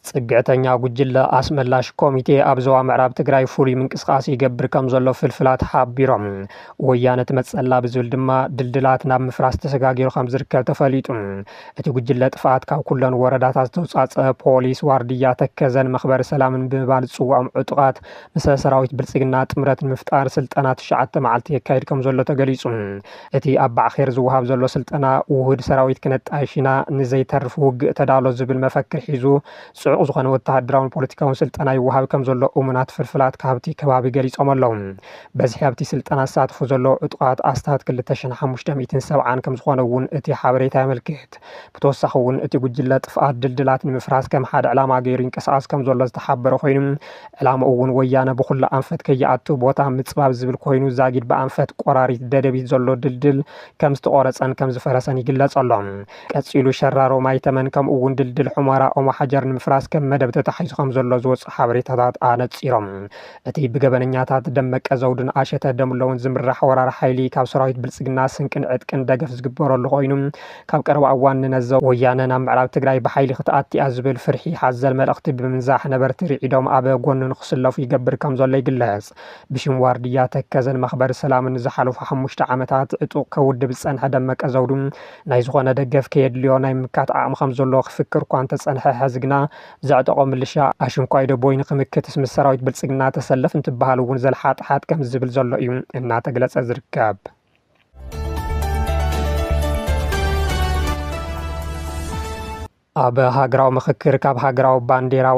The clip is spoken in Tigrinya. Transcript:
ፅግዕተኛ ጉጅለ ኣስመላሽ ኮሚቴ ኣብ ዞባ ምዕራብ ትግራይ ፍሉይ ምንቅስቓስ ይገብር ከምዘሎ ፍልፍላት ሓቢሮም። ወያነ ትመፅኣላ ብዝብል ድማ ድልድላት ናብ ምፍራስ ተሰጋጊሩ ከምዝርከብ ተፈሊጡ። እቲ ጉጅለ ጥፍኣት ካብ ኩለን ወረዳታት ዝተውፃፀኣ ፖሊስ፣ ዋርድያ ተከዘን መኽበሪ ሰላምን ብምባል ዝፅውዖም ዕጡቓት ምሰ ሰራዊት ብልፅግና ጥምረት ንምፍጣር ስልጠና ትሽዓተ መዓልቲ የካይድ ከምዘሎ ተገሊፁ። እቲ ኣብ ባዕኼር ዝወሃብ ዘሎ ስልጠና፣ ውሁድ ሰራዊት ክነጣይሽ ኢና፣ ንዘይተርፍ ውግእ ተዳሎ ዝብል መፈክር ሒዙ፣ ጽዑቕ ዝኾነ ወተሃደራውን ፖለቲካውን ስልጠና ይወሃብ ከምዘሎ እሙናት ፍልፍላት ካብቲ ከባቢ ገሊጾም ኣለዉ። በዝሒ ኣብቲ ስልጠና ዝሳተፉ ዘለዉ ዕጡቓት ኣስታት ክልተ ሽሕን ሓሙሽተ ሚእትን ሰብዓን ከምዝኾነ'ውን እቲ ሓበሬታ የመልክት። ብተወሳኺ እውን እቲ ጉጅለ ጥፍኣት ድልድላት ንምፍራስ ከም ሓደ ዕላማ ገይሩ ይንቀሳቐስ ከምዘሎ ዝተሓበረ ኮይኑ ዕላምኡ እውን ወያነ ብኹሉ ኣንፈት ከይኣቱ ቦታ ምፅባብ ዝብል ኮይኑ ዛጊድ ብኣንፈት ቆራሪት ደደቢት ዘሎ ድልድል ከም ዝተቖረፀን ከም ዝፈረሰን ይግለፅ ኣሎ። ቀፂሉ ሸራሮ ማይተመን ከምኡ እውን ድልድል ሑመራ ኦሞሓጀር ንምፍራስ ከም መደብ ተታሒዙ ከምዘሎ ዝወፅኡ ሓበሬታታት ኣነፂሮም እቲ ብገበነኛታት ደመቀ ዘውዱን ኣሸተ ደምለውን ዝምራሕ ወራሪ ሓይሊ ካብ ሰራዊት ብልፅግና ስንቅን ዕጥቅን ደገፍ ዝግበረሉ ኮይኑ ካብ ቀረባ እዋን ንነዘ ወያነ ናብ ምዕራብ ትግራይ ብሓይሊ ክትኣቲያ ዝብል ፍርሒ ሓዘል መልእኽቲ ብምንዛሕ ነበርቲ ርዒዶም ኣብ ጎኑ ንክስለፉ ይገብር ከምዘሎ ይግለፅ። ብሽም ዋርድያ ተከዘን መኽበሪ ሰላምን ንዝሓለፉ ሓሙሽተ ዓመታት ዕጡቕ ከውድብ ዝፀንሐ ደመቀ ዘውዱ ናይ ዝኾነ ደገፍ ከየድልዮ ናይ ምምካት ዓቕሚ ከምዘለዎ ክፍክር እኳ እንተፀንሐ ሐዚ ግና ዘዕጠቖ ምልሻ ኣሽንኳይ ደቦይ ንኽምክትስ ምስ ሰራዊት ብልፅግና ተሰለፍ እንትበሃል እውን ዘልሓጥሓጥ ከምዝብል ዘሎ እዩ እናተግለፀ ዝርከብ። ኣብ ሃገራዊ ምኽክር ካብ ሃገራዊ ባንዴራ